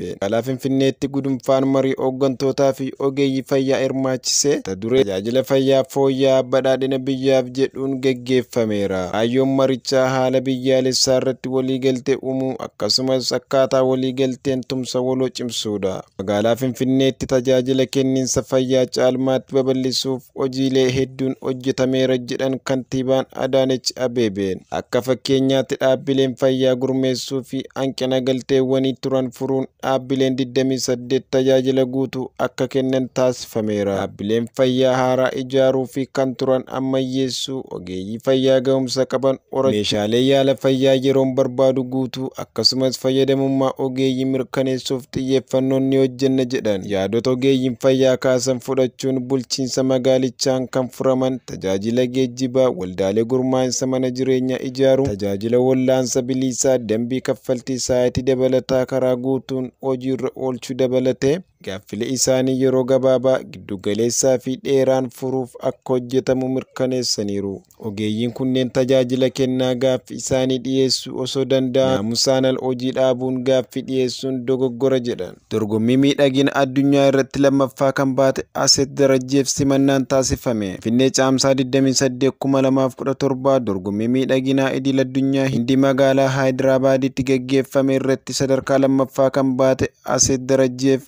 darbe magaalaa Finfinneetti gudunfaan marii hooggantootaa fi ogeeyyii fayyaa hirmaachise mata duree tajaajila fayyaa fooyya'aa badhaadhina biyyaaf jedhuun geggeeffameera. Kaayyoon marichaa haala biyyaalessaa irratti waliigaltee uumuu akkasumas akkaataa waliigalteen tumsa waloo cimsuudha. Magaalaa Finfinneetti tajaajila kenniinsa fayyaa caalmaatti babal'isuuf, hojiilee hedduun hojjetameera jedhan kantiibaan Adaanech Abeebeen. Akka fakkeenyaatti dhaabbileen fayyaa gurmeessuu fi hanqina galteewwanii turan furuun dhaabbileen 28 tajaajila guutuu akka kennan taasifameera. Dhaabbileen fayyaa haaraa ijaaruu fi kan turan ammayyeessuu, ogeeyyii fayyaa ga'umsa qaban Meeshaalee yaala fayyaa yeroon barbaadu guutuu akkasumas fayyadamummaa ogeeyyii mirkaneessuuf xiyyeeffannoon ni hojjenna jedhan. Yaadota ogeeyyiin fayyaa kaasan fudhachuun bulchiinsa magaalichaan kan furaman tajaajila geejjibaa, waldaalee gurmaa'insa mana jireenyaa ijaaruu, tajaajila wallaansa biliisaa, dambii kaffaltii sa'aatii dabalataa karaa guutuun hojiirra oolchuu dabalatee gaaffilee isaanii yeroo gabaabaa, giddugaleessaa fi dheeraan furuuf akka hojjetamu mirkaneessaniiru. Ogeeyyiin kunneen tajaajila kennaa gaaffi isaanii dhiyeessuu osoo danda'an naamusaan al hojii dhaabuun gaaffi dhiyeessuun dogoggora jedhan. Dorgommii miidhagina addunyaa irratti lammaffaa kan baate Aseet Darajjeef simannaan taasifame. Finfinnee Caamsaa 28, 2017 Dorgommii miidhaginaa idil addunyaa Hindi magaalaa Haayidiraabaaditti gaggeeffame irratti sadarkaa lammaffaa kan baate Aseet Darajjeef